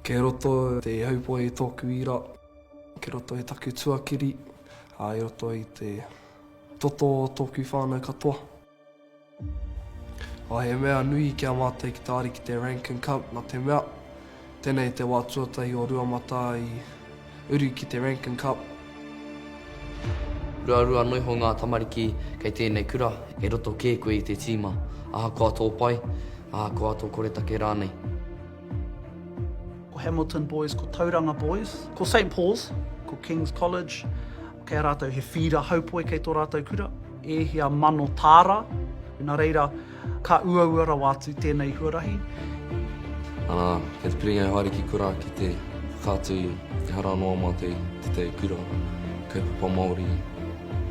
Kei roto te ihaupoi i tōku ira, kei roto i taku tuakiri, ā, i roto i te toto o tōku whānau katoa. Ā, he mea nui ki a mātou ki te Ariki te Rankin Cup, nā te mea, tēnei te wā tuatahi o Rua Matā i. uru ki te Rankin Cup. Ruarua anō iho ngā tamariki kei tēnei kura, e roto kē koe i te tīma, ahakoa tō pai, ahakoa tō koretake rānei. Ko Hamilton Boys, ko Tauranga Boys, ko Saint Paul's, ko King's College, kei a rātou he whīra haupoe kei tō rātou kura, e hia mano tāra, nā reira, Ka uaua rawa atu tēnei huarahi. Ana, kei te piringa e haere ki kura ki te whakaatu i ehara noa ma te tetei kura, kaupapa Maori,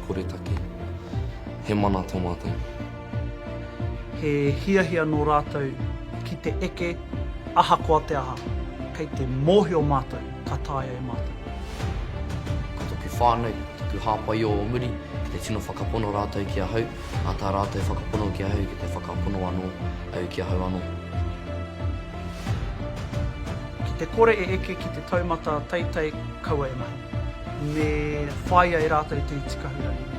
koretake. He mana to matou. He hiahia no ratou ki te eke ahakoa te aha. Kei te mohio matou ka taea e matou. Ko toku whanau, toku hapai o o muri, kei te tino whakapono ratou ki ahau. Nā tā rātou whakapono ki ahau ki te whakapono anō au ki ahau anō. Ki te kore e eke ki te taumata teitei kaua e mahi. Me whāia e rātou te iti kahurangi.